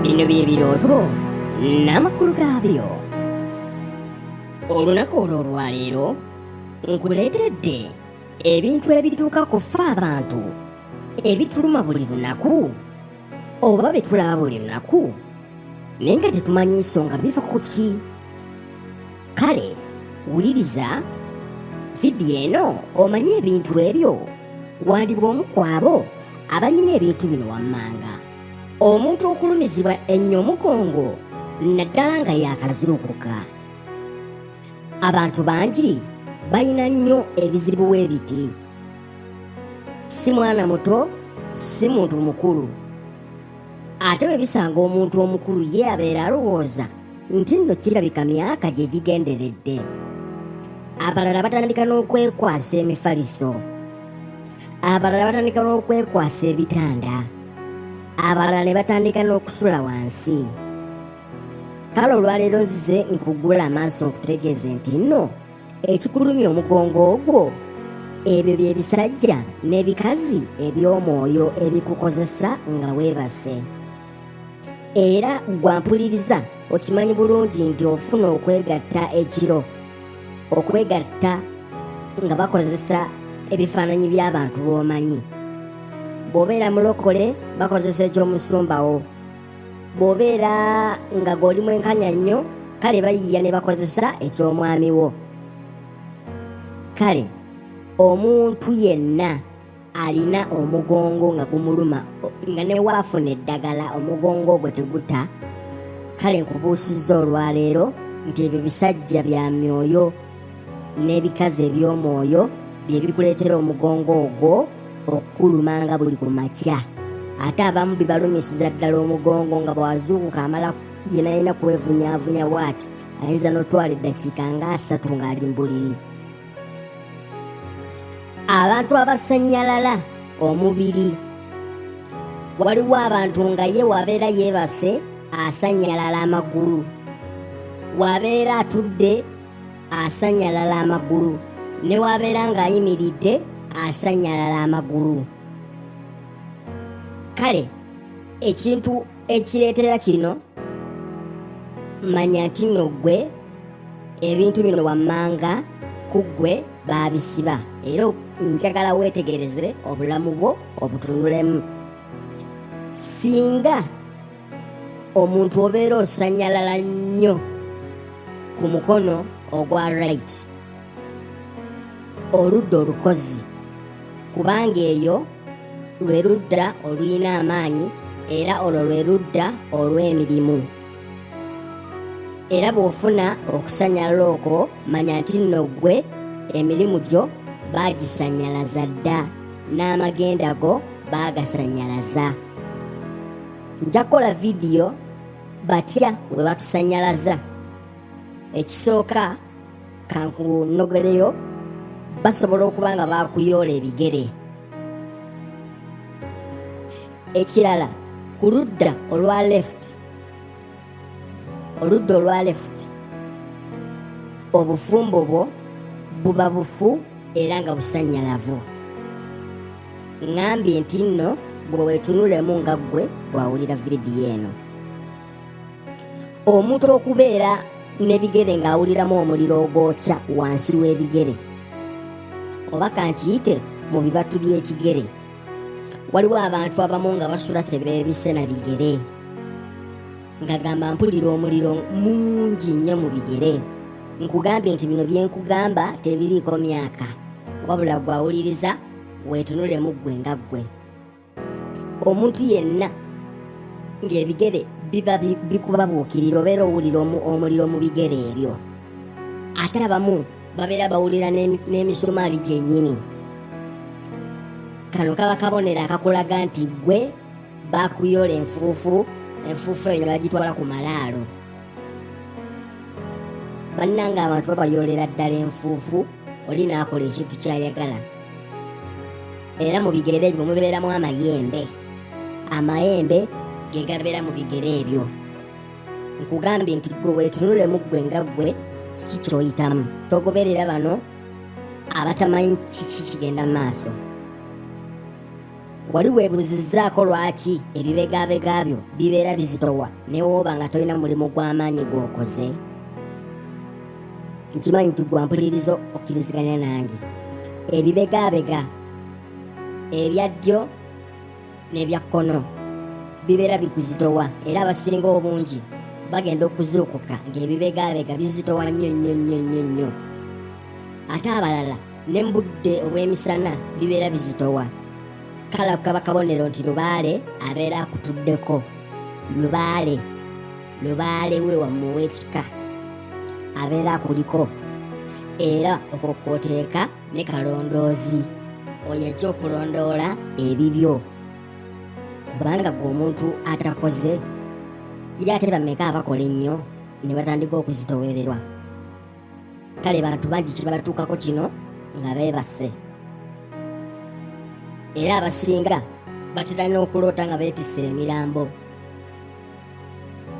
bino bye birooto n'amakulu gaabyo olunaku olwo olwaleero nkuleetedde ebintu ebituuka ku ffe abantu ebituluma buli lunaku oba bye tulaba buli lunaku naye nga tetumanyi nsonga biva ku ki kale wuliriza vidiyo eno omanye ebintu ebyo wandibwa omu kwabo abalina ebintu bino wammanga omuntu okulumizibwa ennyo omugongo naddala nga yaakazuukuka abantu bangi balina nnyo ebizibu we biti si mwana muto si muntu mukulu ate bwe bisanga omuntu omukulu ye abeera alowooza nti nno kirabika myaka gye gigenderedde abalala batandika n'okwekwasa emifaliso abalala batandika n'okwekwasa ebitanda abalala ne batandika n'okusula wansi kale olwaleero nzize nkugula amaaso nkutegeeze nti nno ekikulumya omugongo ogwo ebyo bye bisajja n'ebikazi eby'omwoyo ebikukozesa nga weebase era gwampuliriza okimanyi bulungi nti ofuna okwegatta ekiro okwegatta nga bakozesa ebifaananyi by'abantu b'omanyi bw'obeera mulokole bakozesa ekyomusumbawo bw'obeera nga goli mwenkanya nnyo kale bayiya ne bakozesa eky'omwami wo kale omuntu yenna alina omugongo nga gumuluma nga ne waafuna eddagala omugongo ogwo teguta kale nkubuusizza olwaleero nti ebyo bisajja bya myoyo n'ebikazi eby'omwoyo bye bikuleetera omugongo ogwo okukuluma nga buli ku makya ate abamu bibalumisiza ddala omugongo nga bwazuukuka amala yenayina kwevunyavunya bwati ayinza n'otwala eddakiika nga asatu ng'ali mbuliri abantu abasannyalala omubiri waliwo abantu nga ye wabeera yeebase asannyalala amagulu wabeera atudde asannyalala amagulu ne wabeera ng'ayimiridde asannyalala amagulu kale ekintu ekireetera kino manya nti nno ggwe ebintu bino wammanga ku ggwe baabisiba era njagala weetegereze obulamu bwo obutunulemu singa omuntu obeera osanyalala nnyo ku mukono ogwa right oludda olukozi kubanga eyo lwe ludda olulina amaanyi era olwo lwe ludda olw'emirimu era bw'ofuna okusanyalala okwo manya nti nno ggwe emirimu gyo baagisanyalaza dda n'amagenda go baagasanyalaza nja kukola vidiyo batya bwe batusanyalaza ekisooka kankunogereyo basobola okuba nga bakuyoola ebigere ekirala ku ludda olwa left oludda olwa left obufumbo bwo buba bufu era nga busanyalavu ŋambye nti nno bwe weetunulemu nga ggwe bwawulira vidiyo eno omuntu okubeera n'ebigere ng'awuliramu omuliro ogwokya wansi w'ebigere oba kankiyite mu bibatu by'ekigere waliwo abantu abamu nga basula kyebeebise na bigere ngagamba mpulira omuliro mungi nnyo mu bigere nkugambye nti bino byenkugamba tebiriiko myaka wabula gwawuliriza weetunulemu ggwe nga ggwe omuntu yenna ng'ebigere biba bikubabuukirira obeera owulira omuliro mu bigere ebyo ate abamu babeera bawulira n'emisumaali gyennyini kano kaba kabonero akakulaga nti gwe bakuyola enfuufu enfuufu eyo ne bagitwala ku malaalo bannanga abantu babayolera ddala enfuufu oli n'akola ekintu ky'ayagala era mu bigere ebyo mubeeramu amayembe amayembe ge gabeera mu bigere ebyo nkugambye nti gwe weetunule mu ggwe nga ggwe kiki kyoyitamu togoberera bano abatamanyi kiki kigenda mu maaso wali weebuuzizzaako lwaki ebibegabega byo bibeera bizitowa newooba nga tolina mulimu gw'amaanyi gw'okoze nkimanyi nti gwampuliriza okkiriziganya nange ebibegabega ebya ddyo n'ebya kkono bibeera bikuzitowa era abasinga obungi bagenda okuzuukuka ng'ebibegabega bizitowa nnyo nnyo nnyo nnyo nnyo ate abalala ne mu budde obw'emisana bibeera bizitowa kale ako kaba kabonero nti lubaale abeera akutuddeko lubaale lubaale we wamu w'ekika abeera akuliko era okwo kwoteeka ne kalondoozi oyo ajja okulondoola ebibyo kubanga gwe omuntu atakoze yali ate bameka abakola ennyo ne batandika okuzitowererwa kale bantu bangi kibatuukako kino nga beebase era abasinga batera n'okuloota nga beetisse emirambo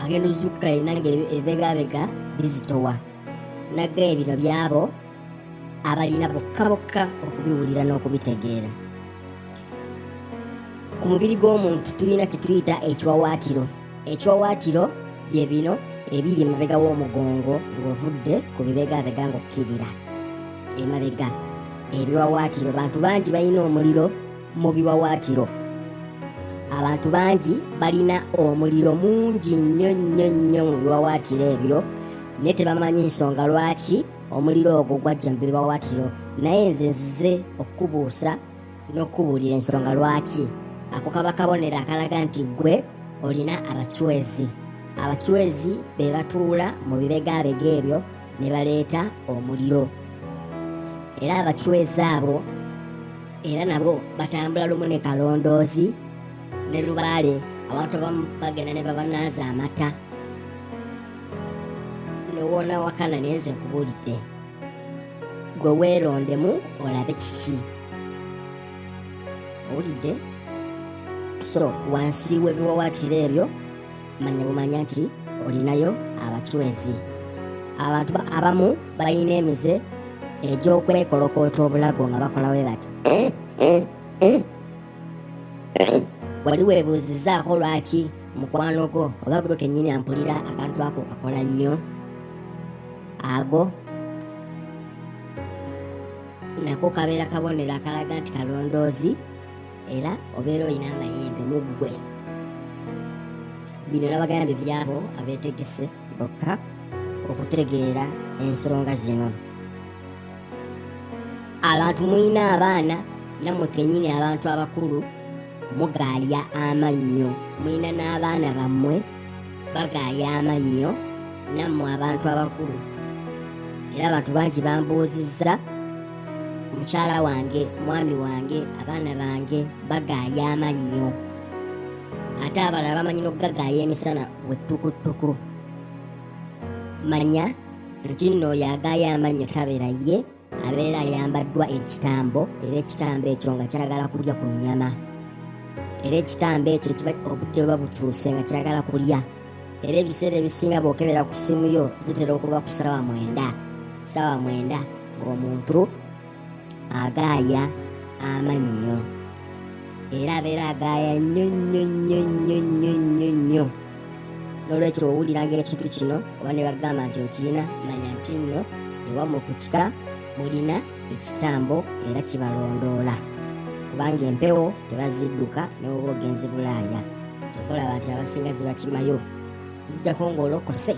agenda ozuukuka yena nga ebegabega bizitowa naggaye bino byabo abalina bokka bokka okubiwulira n'okubitegeera ku mubiri gw'omuntu tulina kye tuyita ekiwawaatiro ekyowaatiro bye bino ebiri emabega w'omugongo ng'ovudde ku bibegaabega ng'okkirira emabega ebiwawaatiro bantu bangi balina omuliro mu biwawaatiro abantu bangi balina omuliro mungi nnyo nnyo nnyo mu biwawaatiro ebyo naye tebamanyi nsonga lwaki omuliro ogwo gwajja mu biwawaatiro naye nze nzize okukubuusa n'okukubuulira ensonga lwaki ako kaba kabonero akalaga nti ggwe olina abacwezi abacwezi be batuula mu bibegaabega ebyo ne baleeta omuliro era abacwezi abo era nabo batambula lumu ne kalondoozi ne lubaale abantu abamu bagenda ne babanaaza amata newona wakana nenze nkubuulidde gwe weerondemu olabe kiki owulidde so wansi w'ebiwawaatiro ebyo manya bumanya nti olinayo abacwezi abantu abamu balina emize egy'okwekolokoota obulago nga bakola we bati eh, eh, eh. wali weebuuzizaako lwaki mukwano gwo oba gwe kennyini ampulira akantu ako kakola nnyo ago nako kabeera kabonero akalaga nti kalondoozi era obeera olina amayembe mu ggwe bino nabagambye byabo abeetegese bokka okutegeera ensonga zino abantu mulina abaana namwe kenyini abantu abakulu mugaalya amannyo mulina n'abaana bammwe bagaaya amannyo nammwe abantu abakulu era abantu bangi bambuuzizza mukyala wange mwami wange abaana bange bagaaya amannyo ate abalala bamanyi n'okugagaaya emisana wettukutuku manya nti nno oyo agaaya amannyo tabeera ye abeera ayambaddwa ekitambo era ekitambo ekyo nga kyagala kulya ku nnyama era ekitambo ekyo kiba obudde buba bukyuse nga kyagala kulya era ebiseera ebisinga bwokebera ku ssimu yo zitera okuba ku ssaawa mwenda ssaawa mwenda ng'omuntu agaaya amannyo era abeera agaaya nnyo nnyo nnyo nnyo nnyo nnyo nnyo n'olwekyo owuliranga ekintu kino oba ne bagamba nti okirina manya nti nno ewamu ku kika mulina ekitambo era kibalondoola kubanga empewo tebazidduka newoba ogenzi bulaaya kyova olaba nti abasinga zibakimayo ojjako ng'olokose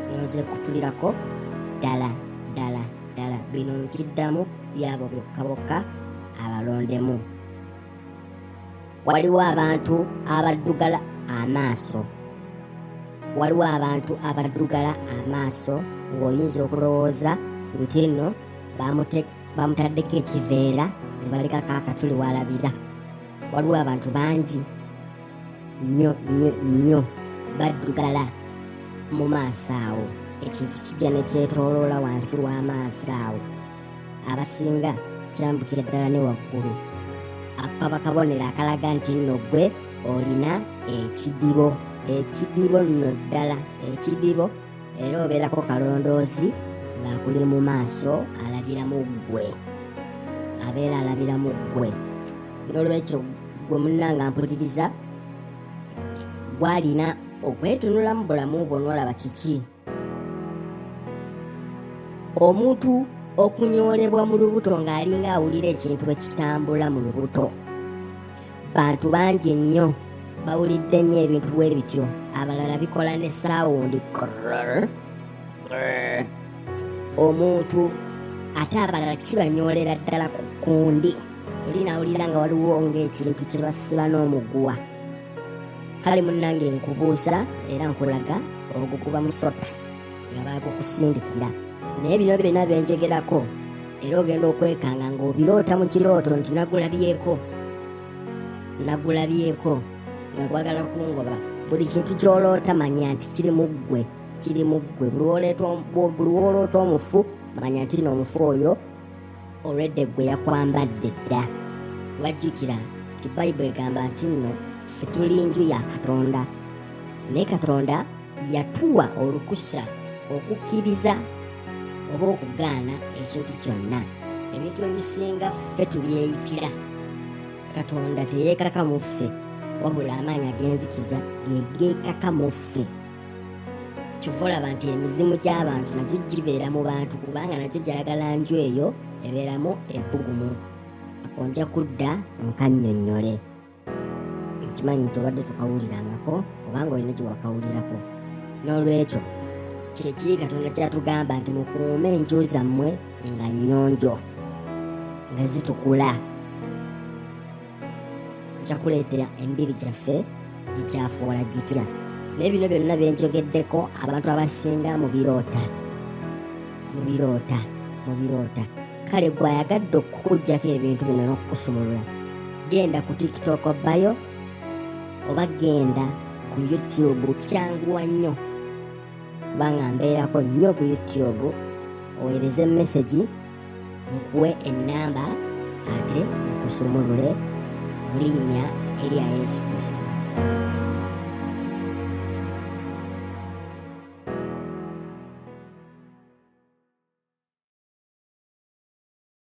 noze kutulirako ddala ddala ddala bino nkiddamu byabo byokka bokka abalondemu waliwo abantu abaddugala amaaso waliwo abantu abaddugala amaaso ng'oyinza okulowooza nti nno bamutaddeko ekiveera ne balekako akatuli walabira waliwo abantu bangi nnyo nnyo nnyo baddugala mu maaso awo ekintu kijja ne kyetooloola wansi w'amaaso awo abasinga kirambukira ddala ne waggulu ako kaba kabonero akalaga nti nno gwe olina ekidibo ekidibo nno ddala ekidibo era obeerako kalondoozi ng'akuli mu maaso alabira mu ggwe abeera alabira mu ggwe n'olwekyo gwe munna nga mpuliriza gwalina okwetunulamu bulamu bwo n'olaba kiki omuntu okunyoolebwa mu lubuto ng'alinga awulira ekintu ekitambula mu lubuto bantu bangi nnyo bawulidde nnyo ebintu bwe bityo abalala bikola ne saawundi omuntu ate abalala kibanyoolera ddala ku kundi oli nawulira nga waliwo ng'ekintu kye basiba n'omuguwa kale munnange nkubuusa era nkulaga ogukuba musota nga baagukusindikira naye bino byonna byenjogerako era ogenda okwekanga ng'obiroota mu kirooto nti nagulabyeko nagulabyeko nga gwagala kungoba buli kintu ky'oloota manya nti kiri mu ggwe kiri mu ggwe buli w'oloota omufu manya nti noomufu oyo olwedde gwe yakwambadde dda wajjukira nti bayibuli egamba nti nno ffe tuli nju ya katonda naye katonda yatuwa olukusa okukkiriza oba okugaana ekintu kyonna ebintu ebisinga ffe tubyeyitira katonda teyeekaka mu ffe wabula amaanyi agenzikiza gegeekaka mu ffe kyova olaba nti emizimu gy'abantu nagyo gibeera mu bantu kubanga nagyo gyagala nju eyo ebeeramu ebbugumu ako nja kudda nkannyonnyole ekimanyi nti obadde tukawulirangako obanga olina gye wakawulirako n'olwekyo kyekiri katonda kyatugamba nti mukuume enju zammwe nga nnyonjo nga zitukula kyakuleetera embiri gyaffe gikyafuwala gitya naye bino byonna bye njogeddeko abantu abasinga mu biroota mu biroota mu biroota kale gwe ayagadde okukuggyako ebintu bino n'okukusumulula genda ku tiktok bayo oba genda ku youtube kyanguwa nnyo kubanga mbeerako nnyo ku youtube oweereze mesegi nkuwe ennamba ate nkusumulule mu linnya erya yesu kristo